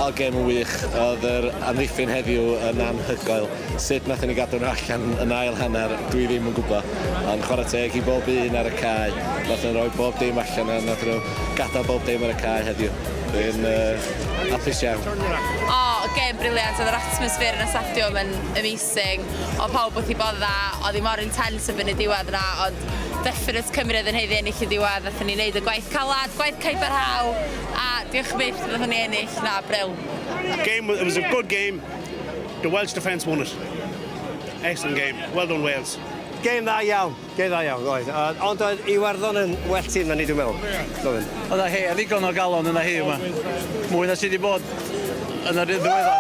Oedd gêm yn wych, oedd yr amddiffyn heddiw yn anhygoel. Sut nath ni gadw nhw allan yn ail hanner, dwi ddim yn gwybod. Ond chwarae teg i bob un ar y cae, nath nhw roi bob dim allan a nath nhw gadael bob dim ar y cae heddiw. Dwi'n uh, hapus iawn. O, gêm briliant, oedd yr atmosffer yn y stadiwm yn amazing. amazing, oedd pawb wrth i bodd dda, oedd hi mor intense erbyn y diwedd yna, ond definate Cymru oedd yn haeddu ennill y diwedd, wnaethon ni wneud y gwaith calad, gwaith caebarhau, a diolch byth wnaethon ni ennill, na, bril. Game, it was a good game, the Welsh defence won it. Excellent game, well done Wales. Game dda iawn. Go dda iawn oedd. Yy ond oedd Iwerddon yn well tîm na ni dwi'n meddwl. Doedd. Oedd a hei a ddigon o galon yna hi yma. Mwy na sydd wedi bod yn yr un ddiweddar.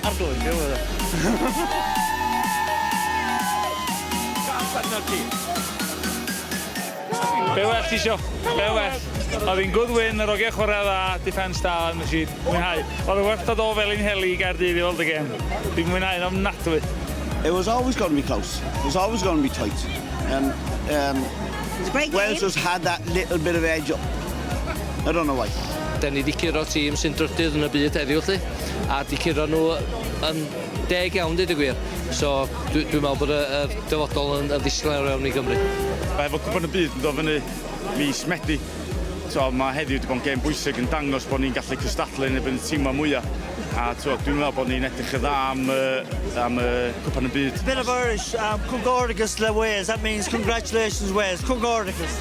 Arglwydd yw e. Gall arnat ti. Be well ti isio? Be well? Oedd hi'n good win, yr ogiau chwarae dda, defence da yn y sheet. Mwynhau. Oedd y werth o do fel i'n heli i Gaerdydd i weld y gêm. Dwi'n mwynhau yn ofnadwy. It was always going to be close. It was always going to be tight. And um, Wales just had that little bit of edge up. I don't know why. Da ni wedi curo tîm sy'n drydydd yn y byd heddiw lle, a wedi curo nhw yn deg iawn, dweud y gwir. So, dwi'n dwi meddwl bod y, y dyfodol yn, yn ddisglair iawn i Gymru. Mae fod cwpan y byd yn dod fyny mis Medi. T'wod, mae heddiw 'di bod yn gêm bwysig yn dangos bod ni'n gallu cystadlu yn erbyn y timau mwya', a t'wod, dwi'n meddwl bod ni'n edrych yn dda am y am y Cwpan y Byd. Bit of Irish, um, Cwngoricus le Wales, that means congratulations Wales, Cwngoricus!